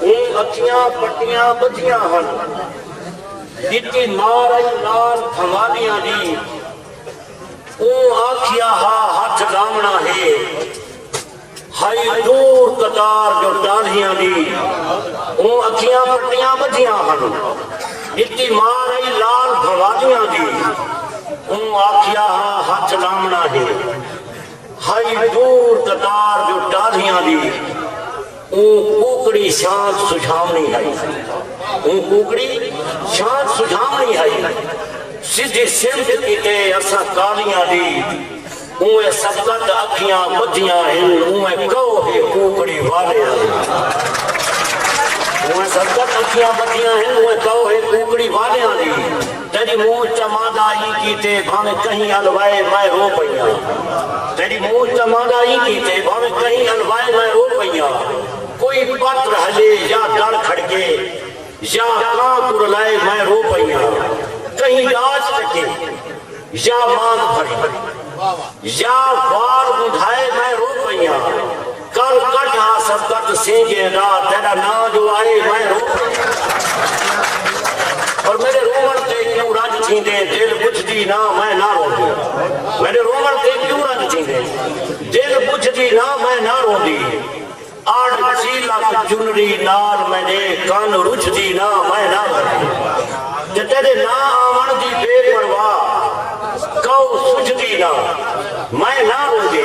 او اکھیاں پٹیاں ٻدھیاں ہن۔ ݙتی مار آئی نال بھنوالیاں دی۔ اوں آکھیا ہا ہتھ لاوݨا ہے۔ ہئی دور قطار جو ٹالھیاں دی۔ او اکھیاں پٹیاں ٻدھیاں ہن۔ ݙتی مار آئی نال بھنوالیاں دی۔ اوں آکھیا ہا ہتھ لاوݨا ہے۔ ہئی دور قطار جو ٹالھیاں دی۔ اوں کوکڑی شانت سجھاوݨی ہئی۔ اوں کوکڑی شانت سجھاوݨی ہئی۔ سدھی سمت کیتے اساں کالیاں دی اونویں سبقت اکھیاں ٻدھیاں ہن اونویں کئو ہے کوکڑی والیاں دی۔ اونویں سبقت اکھیاں ٻدھیاں ہن اونویں کئو ہے کوکڑی والیاں دی۔ تیݙی موچ چا ماندا ای کیتے بھانویں کہیں الوائے میں رو پئیاں تیݙی موچ چا ماندا ای کیتے بھانویں کہیں الوائے میں رو پئیاں کوئی پت رہلے یا ڈر کھڑکے یا کاں کرلائے میں رو پئیاں کہیں ݙاج کٹے یا مانگ بھری یا وار ونڈھائے میں رو پئیاں۔ کل کڈھ ہا سبقت سینگیں دا تیڈا ناں جو آئے میں رو پئیاں پر میڈے روون تے کیوں رنج تھیندے دل بجھ دی نہ میں نہ روندی میڈے روون تے کیوں رنج تھیندے دل بجھ دی نہ میں نہ روندی اڑ چیلک چنری نال میڈے کن رجھ دی نہ میں نہ روندی تے تیڈے نہ آون دی بے پرواہ کئو سجھ دی نہ میں نہ روندی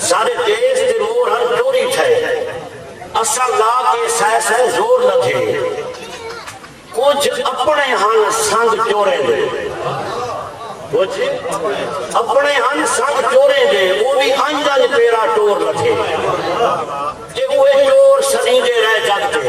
سارے دیس دے مور ہن ٹوری تھئے اساں لا کے سائے سائے زور نہ تھے کچھ اپنے ہن سنگ چورے دے کچھ اپنے ہن سنگ چورے دے وہ بھی انج انج پیرا ٹور نہ تھے جے وہ ٹور سنی دے رہ جگ دے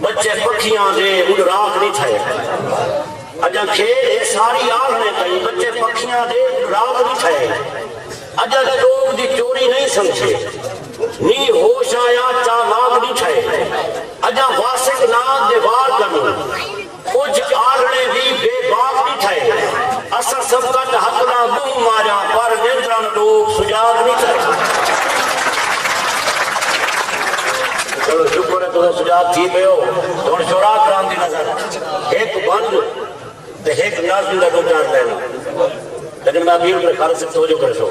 بچے پکھیاں دے اݙ راکھ نی تھئے۔ اڄاں کھیݙ ہے ساری آہݨے تئیں بچے پکھیاں دے اݙ راکھ نی تھئے۔ اڄاں چوک دی چوری نئیں سمجھے۔ نی ہوش آیا چالاک نی تھئے۔ اڄاں واسک ناگ دے وار کنوں۔ کجھ آلھڑیں وی بے باک ݙٹھئے۔ اساں سب کٹ حق ناں منہ ماریاں پر نیترن ݙوک سجاگ نی تھئے۔ چلو شکر ہے تساں سجاگ تھی پئے ہو تے ہݨ شعراء کرام دی نظر ہک بند تے ہک نظم دا ݙو چار لائناں لیکن میں اپیل کرے خالد صاحب توجہ کریسو۔